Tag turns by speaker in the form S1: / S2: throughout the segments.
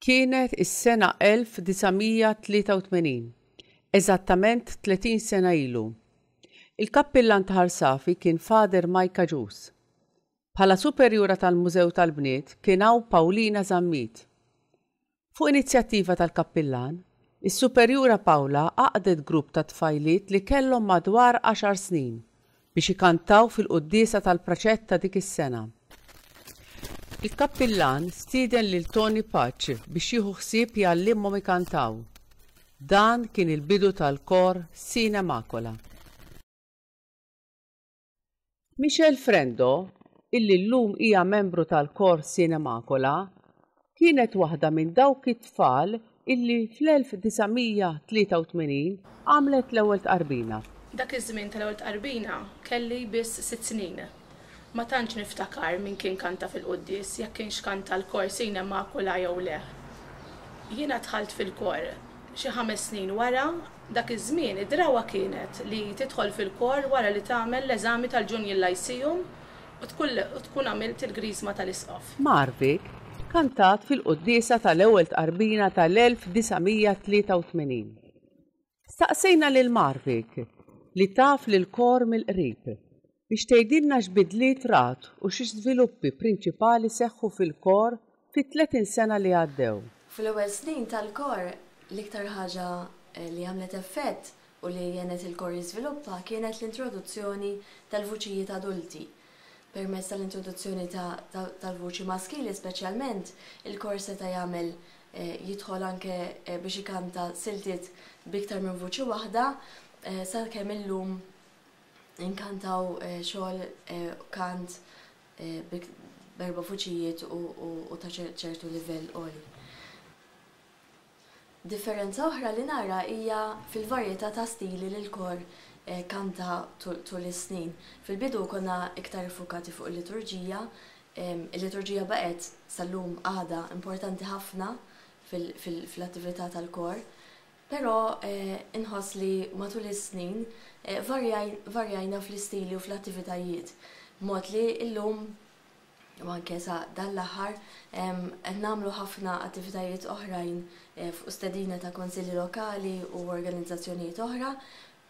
S1: Kienet is-sena 1983, eżattament 30 sena ilu. Il-kappillan ta' Ħarsafi kien Fader Majka Ġus. Bħala superjura tal-Mużew tal-Bniet kien hawn Paulina Zammit. Fuq inizjattiva tal-kappillan, is-Superjura Paula għaqdet grupp ta' tfajliet li kellhom madwar għaxar snin biex ikantaw fil-quddiesa tal-praċett ta' dik is-sena. Il-kappillan stieden lil Tony Pace biex jieħu ħsieb jgħallimhom ikantaw. Dan kien il-bidu tal-kor Sine Macula. Michelle Frendo, illi llum hija membru tal-Kor Cinemacola, kienet waħda minn dawk it-tfal illi fl-1983 għamlet l-ewwel tqarbina. Dak iż-żmien
S2: tal-ewwel tqarbina kelli biss sitt snin. Ma tantx niftakar min kien kanta fil-quddies, jekk kienx kanta l-Kor Cinemacola jew le. Jiena dħalt fil-Kor xi ħames snin wara Dak iż-żmien id-drawwa kienet li tidħol fil-kor wara li tagħmel l-eżami tal-Junior Lyceum u tkun għamilt il-Griżma tal-Isqof. Marvik
S1: kantat fil-quddiesa tal-ewwel tqarbina tal-1983. Staqsejna lil Marvik, li taf lill-kor mill-qrib, biex tgħidilna x'bidliet rat u xi żviluppi prinċipali seħħu fil-Kor fit-30 sena li għaddew. Fl-ewwel snin
S3: tal-Kor, l-iktar ħaġa li għamlet effett u li għenet il-Kor jiżviluppa kienet l-introduzzjoni tal-vuċijiet adulti. Permezz tal-introduzzjoni tal-vuċi maskili speċjalment, il-Kor seta' jagħmel jidħol anke biex ikanta siltiet b'iktar minn vuċi waħda, sakemm illum, Inkantaw xogħol kant b'erba' vuċijiet u ta' ċertu livell għoli. Differenza oħra li nara hija fil-varjetà ta' stili li l-kor kanta tul is-snin. Fil-bidu konna iktar iffukati fuq il-liturġija. Il-liturġija baqgħet, sal-lum għadha, importanti ħafna fl-attività tal-kor. Però inħoss li matul is-snin varjajna fl-istili u fl-attivitajiet, b'mod li llum, u anke sa dan l-aħħar, qed nagħmlu ħafna attivitajiet oħrajn fuq stedina ta' Kunsilli Lokali u organizzazzjonijiet oħra,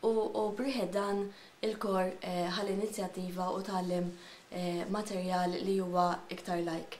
S3: u b'riħet dan il-kor ħa l-inizjattiva u tgħallem materjal li huwa iktar lajk.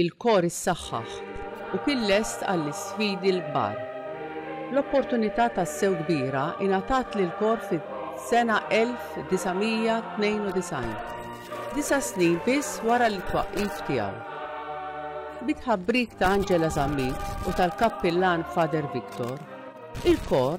S1: Il-kor issaħħaħ u kien lest għall-isfidi l-kbar. L-opportunità tassew kbira ingħatat lill-kor fis-sena 1992, disa' snin biss wara l-itwaqqif tiegħu. Bit-tħabbrik ta' Angela Zammit u tal-Kappillan Father Victor, il-kor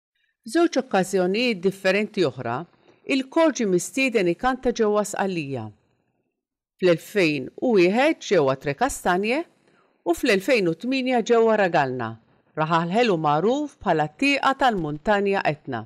S1: F'żewġ okkażjonijiet differenti oħra, il-kor ġie mistieden ikanta ġewwa Sqallija, fl-2001 ġewwa Trecastagnie u fl-2008 ġewwa Ragalna, raħal ħelu magħruf bħala t-tieqa tal-Muntanja Etna.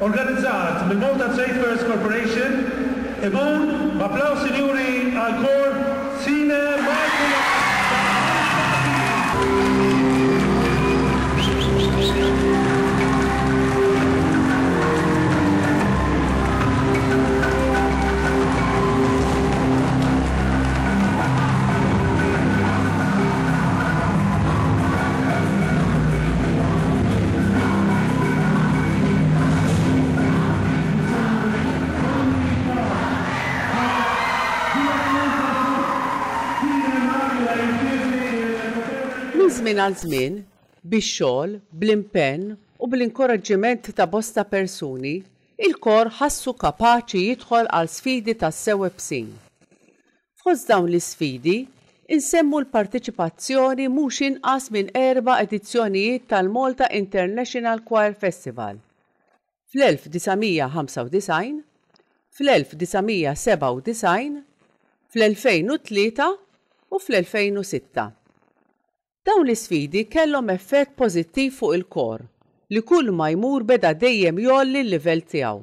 S4: organizzat mill-Malta Trade Fairs Corporation, imur b'applaws sinjuri għall-Kor Sine Martyrologica tal-Ħames Martiri.
S1: Minn żmien għal żmien, bix-xogħol, bl-impenn u bl-inkoraġġiment ta' bosta persuni, il-kor ħassu kapaċi jidħol għal sfidi tassew ibsin. Fost dawn l-isfidi, insemmu l-parteċipazzjoni mhux inqas minn erba' edizzjonijiet tal-Malta International Choir Festival, fl-1995, fl-1997, fl-2003 u fl-2006. Dawn l-isfidi kellhom effett pożittiv fuq il-kor, li kulma jmur beda dejjem jgħolli l-livell tiegħu.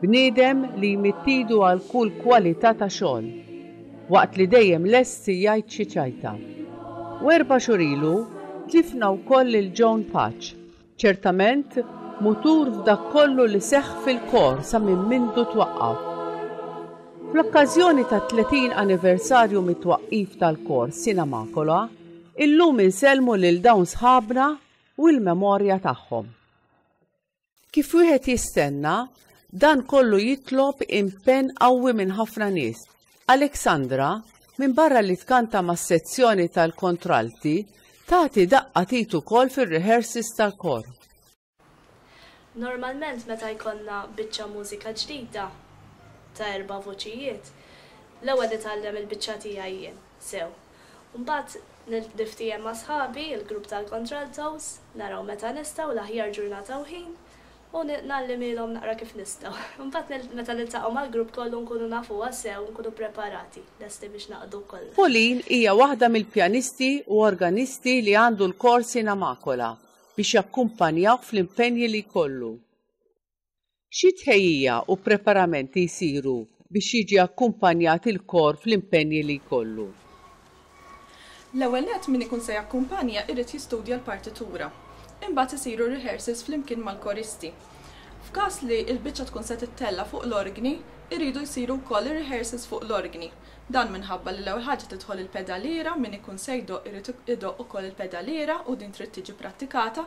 S1: Bniedem li jmidd idu għal kull kwalità ta' xogħol, waqt li dejjem lest jgħid xi ċajta. U erba' xhur ilu tlifna wkoll lil Joan Paċ, ċertament mutur f'dak kollu li seħħ fil-Kor sa minn mindu twaqqaf. Fl-okkażjoni tat-30 anniversarju mit-twaqqif tal-Kor Sina Makula, illum insellmu lil dawn sħabna u l-memorja tagħhom. Kif wieħed jistenna, dan kollu jitlob impenn qawwi minn ħafna nies. Alexandra, minbarra li tkanta mas-sezzjoni tal-kontralti, tagħti daqqa t'id ukoll fir-rehearses tal-kor.
S5: Normalment meta jkollna biċċa mużika ġdida ta' erba' vuċijiet, l-ewwel nitgħallem il-biċċa tiegħi jien. Sew. U mbagħad nilftiehem ma' sħabi, il-grupp tal-Contraltos, naraw meta nistgħu, l-aħjar ġurnata u ħin, u ngħallimhielhom naqra kif nistgħu. Mbagħad meta niltaqgħu mal-grupp kollu nkunu nafuha sew, nkunu ppreparati, lesti biex naqdu kollox. Pauline hija waħda
S1: mill-pjanisti u organisti li għandu l-kors in Amakola biex jakkumpanjawh fl-impenji li jkollu. Xi tħejjija u preparamenti jsiru biex jiġi akkumpanjat il-kor fl-impenji li jkollu?
S6: L-ewwel nett min ikun se jakkumpanja jrid jistudja l-partitura. Imbagħad isiru r-rehearsals flimkien mal-koristi. F'każ li l-biċċa tkun se tittella' fuq l-orgni, iridu jsiru wkoll ir-rehearsals fuq l-orgni. Dan minħabba li l-ewwel ħaġa tidħol il-pedaliera, min ikun se jdoqq irid idoqq ukoll il-pedaliera u din trid tiġi prattikata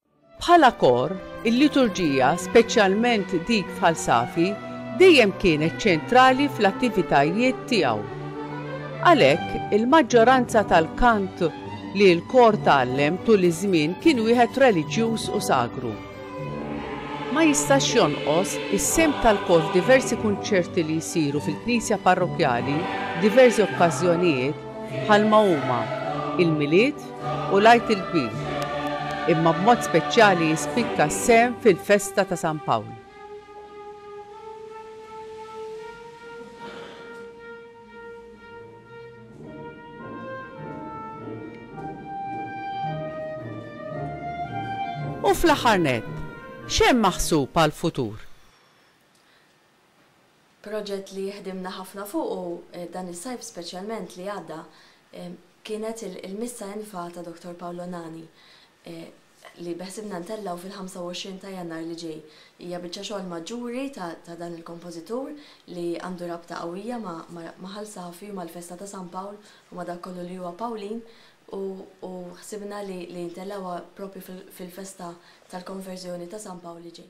S1: Bħala kor, il-liturġija, speċjalment dik f'Ħal Safi, dejjem kienet ċentrali fl-attivitajiet tiegħu. Għalhekk, il-maġġoranza tal-kant li l-kor tgħallem tul iż-żmien kien wieħed reliġjuż u sagru. Ma jistax jonqos is-sehem tal-kor f'diversi kunċerti li jsiru fil-knisja parrokkjali f'diversi okkażjonijiet bħalma huma, il-Milied, u l-Għid il-Kbir, imma b'mod speċjali jispikka s-sehem fil-festa ta' San Pawl. U fl-aħħar nett, x'hemm maħsub għall-futur? Proġett
S3: li ħdimna ħafna fuqu dan is-sajf speċjalment li għadda kienet il-Missa in Fa ta' Dottor Paolo Nani li beħsibna ntellgħu fil-25 ta' Jannar li ġej. Hija biċċa xogħol maġġuri ta' dan il-kompożitur li għandu rabta qawwija ma' Ħal Safi u mal-festa ta' San Pawl u ma' dak kollu li huwa Pawlin u ħsibna li ntellgħuha proprju fil-festa tal-Konverżjoni ta' San Pawl li ġej.